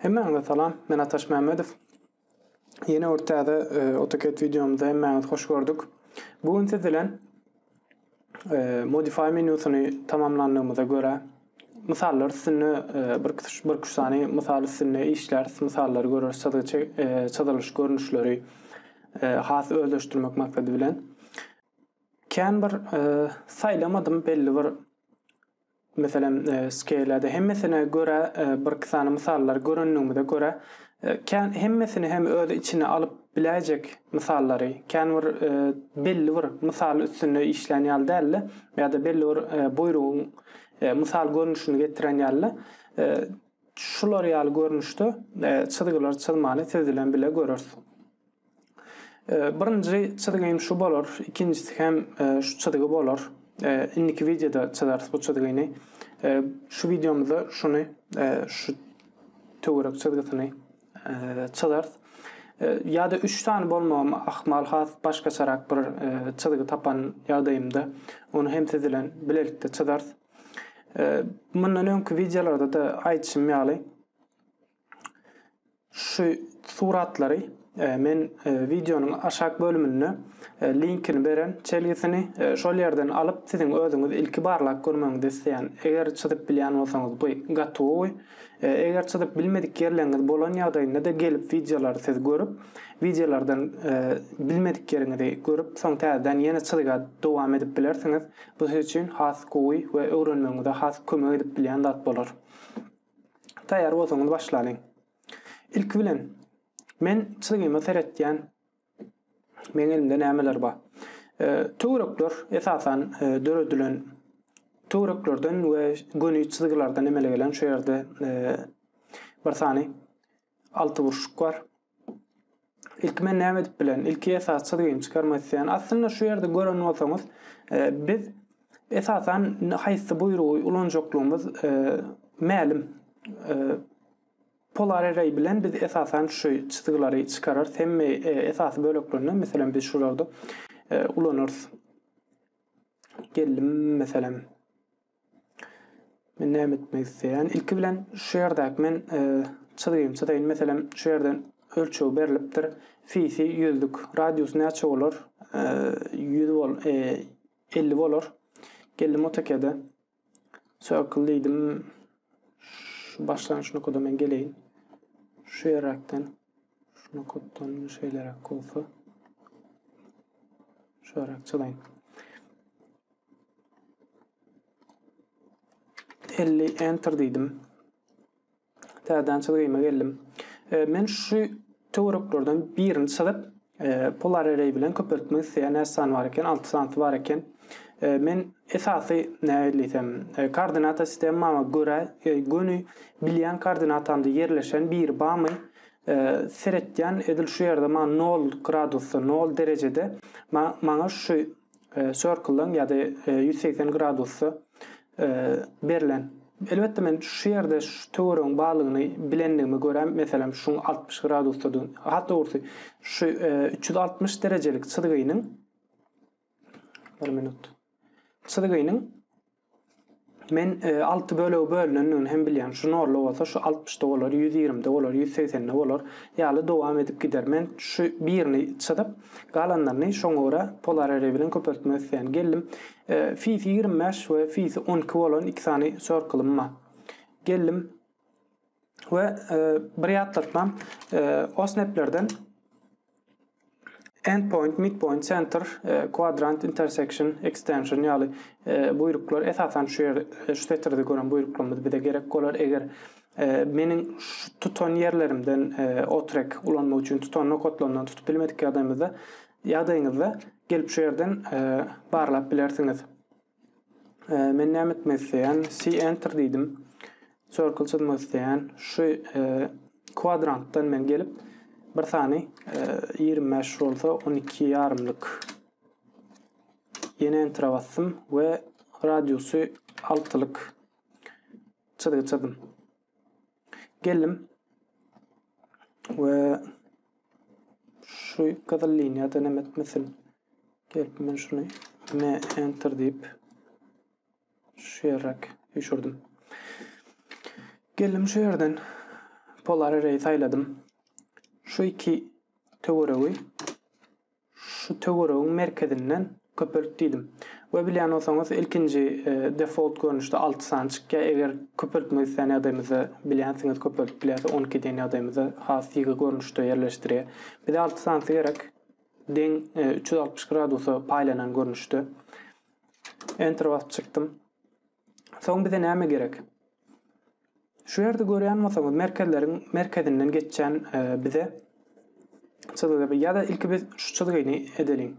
Hemmäňize salam, men Ataş Mämmedow. Ýene bir täze e, AutoCAD wideomyzda hemmäňizi hoş gördük. Bu gün siz bilen e, Modify menýusyny tamamlandygymyza görä, mysallar üstünde e, bir bir üç sany mysal üstünde işläris, mysallary göreris, çyzygy çyzylyş görnüşleri has özleşdirmek maksady bilen. Kän bir saýlamadym belli bir meselem skelede hemmesine göre birki sany mysallar görenligimize göre kän hemmesini hem öz içine alyp biläýjek mysallary kän bir belli bir mysal üstünde işlän ýaly däldi ýa-da belli bir buýrugyň mysal görnüşini getiren ýaly şular ýaly görnüşde çyzgylar çyzmany siz bilen bile göreris. Birinji çyzgym şu bolar, ikinjisi hem şu çyzgy bolar. Indiki wideoda çyzarys bu çyzgyny. Şu wideomyzda şuny, şu töwerek çyzgysyny çyzarys. Ýa-da üç sany bolmagym ahmal, has başgaçarak bir çyzgy tapan ýagdaýymda, ony hem siz bilen bilelikde çyzarys. Mundan öňki wideolarda-da aýdyşym ýaly, Şu suratlary men wideonyň aşak bölüminde linkini beren çelgisini şol ýerden alyp siziň özüňiz ilki barlap görmegiňizi isleýän. Eger çyzyp bilýän bolsaňyz bu gatowy. Eger çyzyp bilmedik ýerleriňiz bolan ýagdaýynda-da gelip wideolary siz görüp wideolardan bilmedik ýeriňizi görüp soň täzeden ýene çyzyga dowam edip bilersiňiz. Bu siz üçin has gowy we öwrenmegiňize has kömek edip bilýän zat bolar. Taýýar bolsaňyz başlalyň. Ilki bilen men çyzygyma seretýän meň elimde nämeler bar. E, töwrekler esasan e, döredilen töwreklerden we göni çyzygylardan emele gelen şu ýerde e, bir sany Alty burçluk bar. Ilki men näme edip bilen? Ilki esas çyzgyny çykarmak isleýän. Aslynda şu ýerde gören bolsaňyz, e, biz esasan haýsy buýrugy ulanjaklygymyz e, mälim. E, polar array bilen biz esasan şu çyzgylary çykararys. Hemme e, esasy böleklerini, meselem, biz şularda e, ulanarys. Geldim, meselem, Men näme etmek isleýän? Ilki bilen şu ýerdäki men e, çyzgymy çyzaýyn. Meselem, şu ýerden ölçeg berlipdir. Fisi ýüzlük. Radius näçe bolar? E, ýüz bol, e, elli bolar. Geldim AutoCAD-e. Circle diýdim. Şu başlangyç nokada men geleýin. Şu ýeräkden. Şu nokatdan şeýleräk bolsa. Şu ýeräk çyzaýyn. Elli enter diýdim. Täzeden çyzgyma geldim. E, men şu töwereklerden birini çyzyp, e, polar array bilen köpeltmek isleýän näçe sany bar eken? 6 sanysy bar eken. E, men esasy näme diýsem, e, koordinata sistemama görä, e, göni bilýän koordinatamda ýerleşen biri barmy? E, seretýän edil şu ýerde maňa 0 gradusda, 0 derejede maňa şu circle-dan ýa-da ýüz segsen gradusda berlen. Elbetde men şu ýerde şu töweregiň barlygyny bilendigime görä, meselem, şuň altmyş gradusdadygyny, has dogrusy, şu üç ýüz altmyş derejelik çyzgynyň bir minut. Çyzgynyň Men e, alty bölege bölünendigini hem bilýän. Şu norla bolsa şu altmyşda bolar, ýüz ýigrimide bolar, ýüz segsende bolar ýaly dowam edip gider. Men şu birini çyzyp, galanlaryny şoňa görä polar ereý bilen köpeltmek isleýän. Geldim, e, fisi ýigrimi bäş we fisi on iki bolan iki sany sörkilym bar. Geldim, we bir ýatlatmam OSNAP-lerden Endpoint, Midpoint, Center, Quadrant, Intersection, Extension ýaly buýruklar esasan şu ýerde şu setirde gören buýruklarymyz bize gerek bolar eger Ee, meniň tutan ýerlerimden e, otrek ulanmak üçin tutan nokatlarymdan tutup bilmedik ýagdaýymyzda ýagdaýyňyzda gelip şu ýerden e, barlap bilersiňiz. Ee, men näme etmek isleýän? Si enter diýdim. Circle çyzmak isleýän. Şu e, kwadrantdan men gelip bir sany e, 25 bolsa 12 ýarymlyk ýene enter basdym we radiusy 6 lyk çyzgy çyzdym. Geldim we şu gyzyl liniýada näme etmesin? Gelip men şuny ne enter diýip şu ýeräk düşürdim. Geldim şu ýerden polar array saýladym. Şu iki töweregi Şu töweregiň merkezinden köpelt diýdim. We bilýän bolsaňyz ilkinji default görnüşde alty sany çykýar. Eger köpeltmek islän ýagdaýymyzda bilýänsiňiz köpeltip bilýäris on iki diýen ýagdaýymyzda has ýygy görnüşde ýerleşdirýär. Bize alty sanysy gerek deň üç ýüz altmyş gradusa paýlanan görnüşde. Enter basyp çykdym. Soň bize näme gerek? Şu ýerde görýän bolsaňyz, merkezleriň merkezinden geçýän e, bize çyzgy ýa-da ilki biz şu çyzgyny edeliň.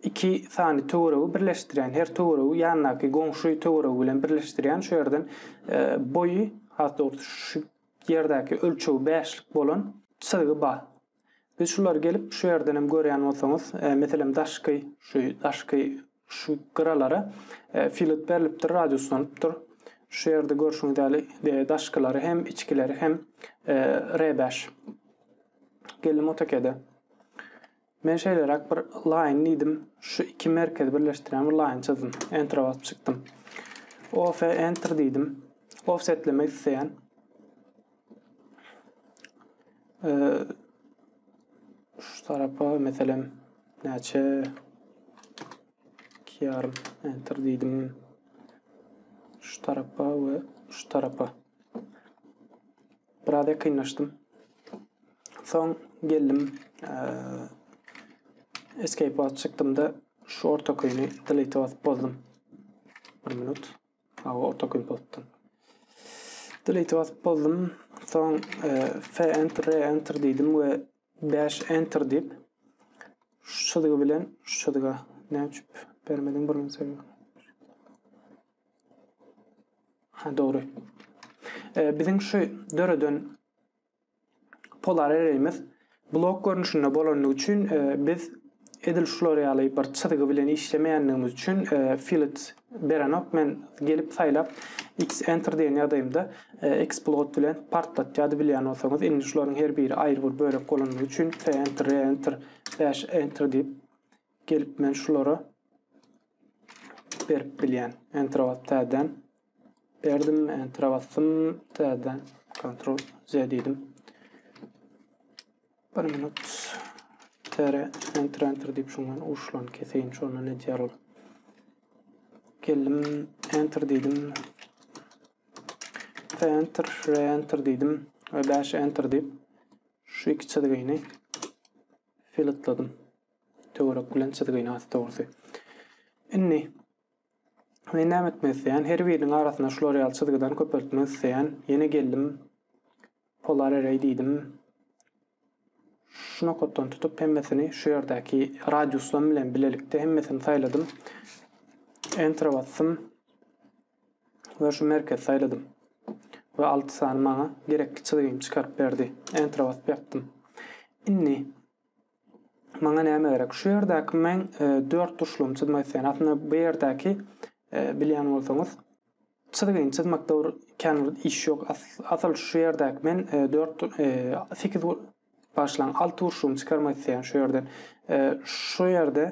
iki sany töweregi birleşdirýän, her töweregi ýandaky goňşy töweregi bilen birleşdirýän şu ýerden e, boýy, has dogry şu ýerdäki ölçegi 5-lik bolan çyzgy bar. Biz şulary gelip şu ýerdenem görýän bolsaňyz, meselem daşky şu daşky şu gyralara filet berlipdir, radiuslanypdyr. Şu ýerde görşüňiz ýaly daşkylary hem içkileri hem R bäş. Geldim otokede. Men şeýleräk bir line diýdim. Şu iki merkezi birleşdirýän bir line çyzdym. Enter basyp çykdym. OF enter diýdim. Offsetlemek isleýän. Şu tarapa meselem näçe iki ýarym enter diýdim. Şu tarapa we şu tarapa. Biraz ýakynlaşdym. Soň geldim. Escape basyp çykdym-da şu orta köýni delete basyp bozdum. Bir minut. Hawa, orta köp bolupdyr. Delete basyp boldum. Soň F enter, R enter diýdim we dash enter diýip şu düzgi bilen şu düzgä näme üçin bermediň bir gün sebäbi. Ha dogry. Biziň şu döreden Polar Erelimiz blok görnüşinde bolandygy üçin biz edil şular ýaly bir çyzgy bilen işlemeýändigimiz üçin Fillet berenok men gelip saýlap X Enter diýen ýagdaýymda X plot bilen partlatýardy bilýän bolsaňyz indi şularyň her biri aýry bir bölek bolandygy üçin F Enter R Enter Bash Enter diýip gelip men şulara berip bilýän Enter basyp täzeden Berdim, Enter-e basdym, täzeden Ctrl Z diýdim. Bir minut tere enter enter diýip şundan uşlan keseýin şonda ne diýer ol. Geldim enter diýdim. Ve enter re enter diýdim ve 5 enter diýip şu iki çizgini filatladım. Töwerek bilen çizgini asy dogrusu. Indi Men näme etmek isleýän? Her biriniň arasyna şular ýaly çyzgydan köpeltmek isleýän. Ýene geldim. Polar array diýdim. Şu nokatdan tutup hemmesini şu ýerdäki radiuslam bilen bilelikde hemmesini saýladym. Enter basdym. Ve şu merkez sayladım. Ve 6 sany bana gerekli çizgimi çıkarıp verdi. Enter basıp yaptım. Şimdi Maňa näme gerek? Şu ýerdäki men e, dört burçlugyny çyzmak isleýän. Aslynda bu ýerdäki e, bilýän bolsaňyz, çyzgyny çyzmakda bir kän bir iş ýok. Asyl şu ýerdäki men e, dört e, sekiz başlan alty burçlugyny çykarmak isleýän şu ýerden. Şu ýerde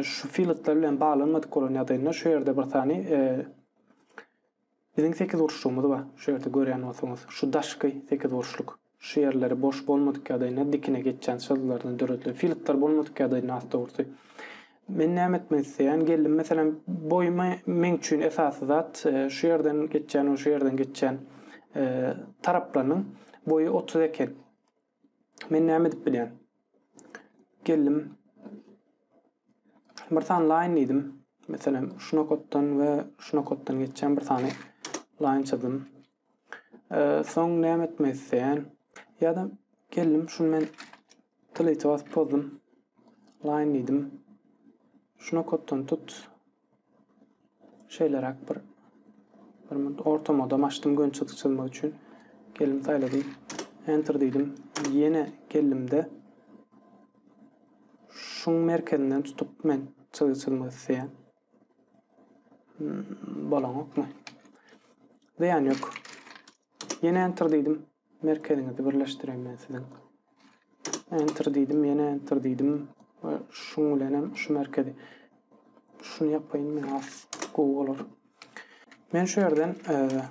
şu filtler bilen baglanmadyk bolan ýagdaýynda şu ýerde bir sany Biziň sekizburçlygymyz bar, şu ýerde görýän bolsaňyz, şu daşky sekizburçluk. Şu ýerleri boş bolmadyk ýagdaýynda dikine geçýän çyzgylardan döredilen. Filtr bolmadyk ýagdaýynda has dogrusy. Men näme etmek isleýän geldim, meselem, boýumy meň üçin esasy zat, şu ýerden geçýän we şu ýerden geçýän taraplarynyň boýy otuz eken. Men näme edip bilýän? Geldim. Bir sany line diýdim. Meselem, şu nokatdan we şu nokatdan geçýän bir sany line çyzdym. Ee, soň näme etmek isleýän? Ýa-da geldim, şuny men tylyja basyp bozdum. Line diýdim. Şu nokatdan tut, Şeýleräk bir bir minut orta modam açdym gön çyzyk çyzmak üçin. Geldim saýladym. Enter diýdim. Ýene geldimde şuň merkezinden tutup men çyzyk çyzmak isleýän. Hmm, bolanokmy? Zyýan ýok. Ýene enter diýdim. Merkeziňizi birleşdireýin men siziň. Enter diýdim, ýene enter diýdim we şuň bilen hem şu merkezi şuny ýapaýyn men has gowy bolar. Men şu ýerden e,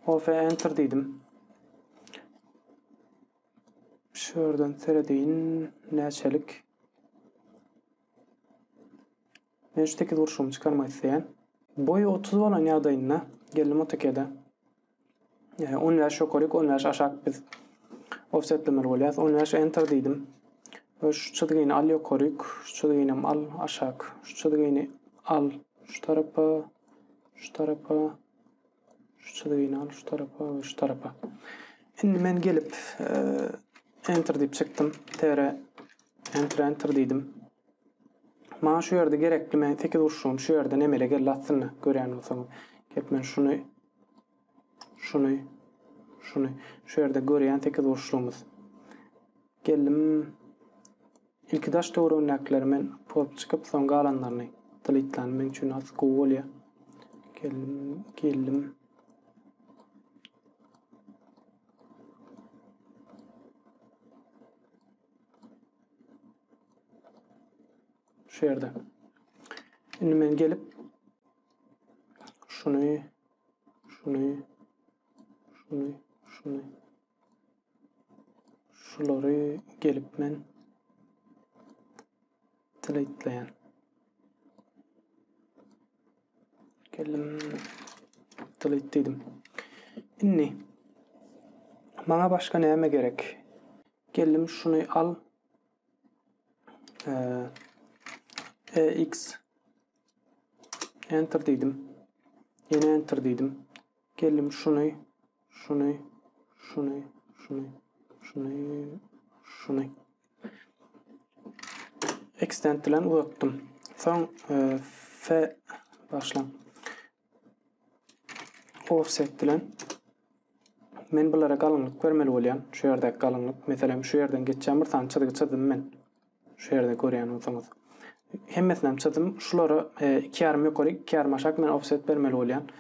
OF enter diýdim. Şu ýerden seredeýin näçelik Men şu tekiz gurşugymy çykarmak isleýän. Boýy otuz bolan ýagdaýynda geldim AutoCAD-e. E, on bäş ýokaryk, on bäş aşak biz offsetlemeli bolýas. On bäş enter diýdim. Ve şu çizgini al ýokaryk, şu çizgini al aşak, şu çizgini al şu tarapa, şu tarapa, Şu çyzgyny al şu tarapa we şu tarapa. Indi men gelip enter diýip çykdym. TR enter enter diýdim. Maňa şu ýerde gerekli men 8 urşum şu ýerden emele geldi aslynda görýän bolsaňyz. Gelip men şuny şuny şuny şu ýerde görýän 8 urşumyz. Geldim Ilki daş töweregindäkileri men post çykyp soň galanlaryny dilitlany meň üçin has gowy bolýa. Geldim, geldim. Şu ýerde. Indi men gelip şuny, şuny, şuny, şuny Şulary gelip men delete'leýän. Geldim delete diýdim. Indi maňa başga näme gerek? Geldim şuny al. Eee EX Enter diýdim. Ýene Enter diýdim. Geldim şuny, şuny, şuny, şuny, şuny, şuny. Extend bilen uzatdym. Soň e, F başlan. Offset bilen men bulara galyňlyk bermeli bolýan. Şu ýerdäki galyňlyk. Meselem, şu ýerden geçýän bir sany çyzgy çyzdym men. Şu ýerde görýän bolsaňyz. Hemmesinem çyzdym. Şulara e, iki ýarym ýokary, iki ýarym aşak men offset bermeli bolýan.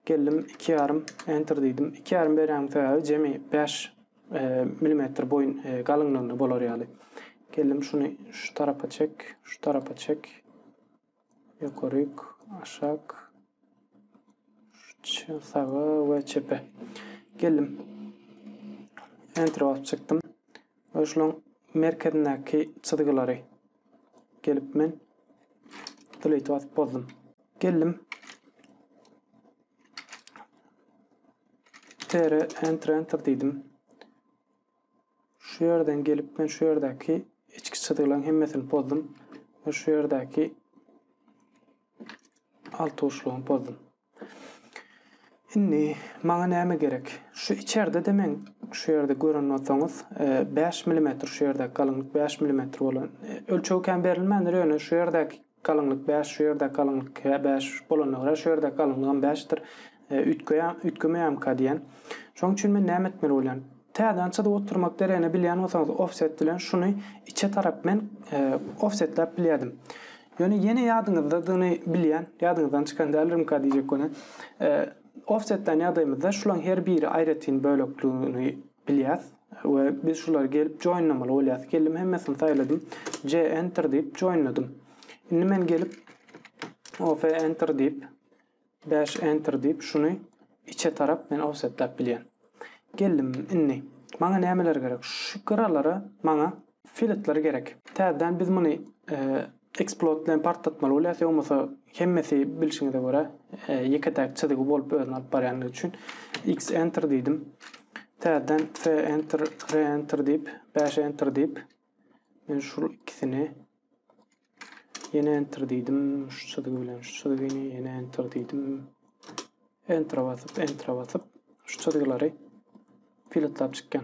Geldim iki ýarym enter diýdim. Iki ýarym berýän sebäbi jemi 5 e, milimetr boýun e, galyňlygynda bolar ýaly. Geldim şuny şu tarapa çek, şu tarapa çek. Ýokaryk, aşak, saga we çepe. Geldim. Enter basyp çykdym. Ve şularyň merkezindäki çyzgylary gelip men delete basyp bozdum. Geldim. Tere enter enter diýdim. Şu ýerden gelip men şu ýerdäki içki çyzgylaryň hemmesini pozdum we şu ýerdäki altuçlugyny pozdum. Indi maňa näme gerek? Şu içerde-de men şu ýerde gören bolsaňyz 5 e, mm şu ýerdäki galyňlyk 5 mm bolan e, ölçegi kän berilmändir ýöne şu ýerdäki Galyňlyk bäş, şu ýerdäki galyňlyk hä bäş bolanda görä, şu ýerdäki galyňlygam bäşdir. Üýtgeýär, üýtgemeýärmika diýen. Şoň üçin men näme etmeli bolýan? Täzeden çyzyp oturmak deregine bilýän bolsaňyz offset bilen şuny içe tarap men offsetläp bilýärdim. Ýöne ýene ýadyňyzdadygyny bilýän, ýadyňyzdan çykan däldirmika diýjek bolýan. Offsetlän ýagdaýymyzda şulaň her biri aýratyn bölekligini bilýäs. We biz şulary gelip joinlamaly bolýas. Geldim hemmesini saýladym. J enter diýip joinladym. Indi men gelip OF enter diýip dash enter diýip şuny içe tarap men offsetläp bilýän. Geldim indi. Maňa nämeler gerek? Şu gyralara maňa Filtr gerek. Täzeden biz muny Explode bilen partlatmaly bolýas, ýogmasa hemmesi bilşiňize görä ýeke-täk çyzygy bolup özüni alyp barýandygy üçin. X enter diýdim. Täzeden F enter, R enter diýip, bäş enter diýip, men şul ikisini ýene enter diýdim. Şu çyzygy bilen şu çyzygyny ýene enter diýdim. Enter basyp, enter basyp şu çyzgylary filtrlap çykýan.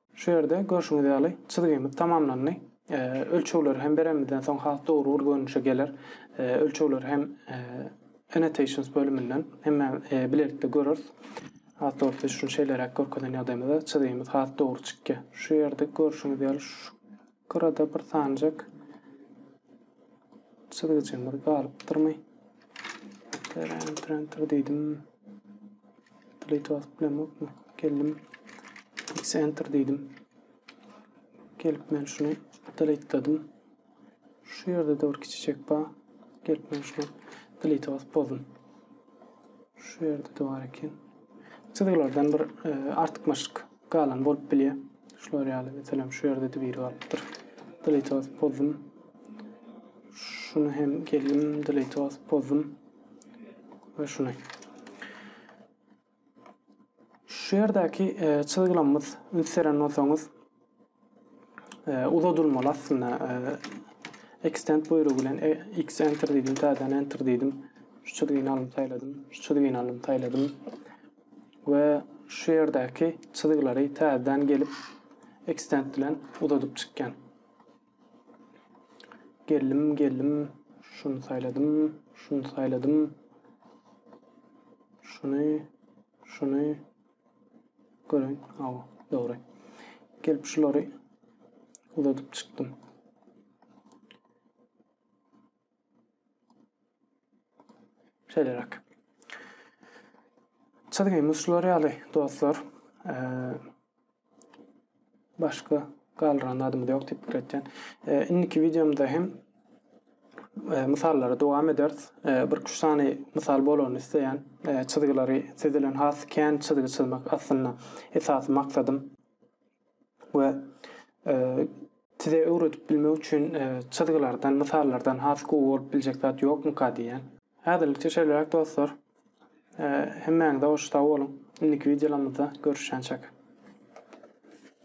Şu ýerde görşüňiz ýaly çyzgymyz tamamlandy. Ölçegleri hem berenimizden soň has dogry bir görnüşe geler. Ölçegleri hem Annotations bölüminden hemmäm bilelikde göreris. Has dogrusy şuny şeýleräk görkezen ýagdaýymyzda çyzgymyz has dogry çykýar. Şu ýerde görşüňiz ýaly şu Gyrada bir sanjak çyzgyjymyz galypdyrmy? Enter, enter, enter diýdim. Delete basyp bilemokmy? Geldim. X enter diýdim. Gelip men şuny delete'ladim. Şu ýerde dört kiçijek bar. Gelip men şuny delete basyp bozdum. Şu ýerde de bar eken. Çyzgylardan bir e, artykmaçlyk Galan bolup bilýär. Şular ýaly meselem şu ýerde de biri galypdyr. Delete basyp bozdum. Şuny hem geldim delete basyp bozdum. Ve şuny. Şu ýerdäki e, çyzgylamyz üns beren bolsaňyz e, uzadylmaly aslynda. E, extend buýrugy bilen e, x enter diýdim, täzeden enter diýdim. Şu çizgini alyp saýladym, şu çizgini alyp saýladym. We şu ýerdäki çyzgylary täzeden gelip extend bilen uzadyp çykýan. Geldim, geldim. Şunu saýladym, şunu saýladym. Şunu, şunu, Görün, hawa, dogry. Gelip şulary uzadyp çykdym. Şeýleräk. Çyzgymyz şular ýaly, dostlar. Eee... Başga galdyran zadymyz ýok diýip pikir etýän. Indiki wideomda hem mysallary dowam ederis. Bir üç sany mysal bolany isleýän. Çyzgylary siz bilen has kän çyzgy çyzmak aslynda esasy maksadym. We size öwredip bilmek üçin çyzgylardan, mysallardan has gowy bolup biljek zat ýokmyka diýýän. Häzirlikçe şeýleräk dostlar. Hemmäňize goş sag boluň. Indiki wideolarymyzda görüşýänçäk.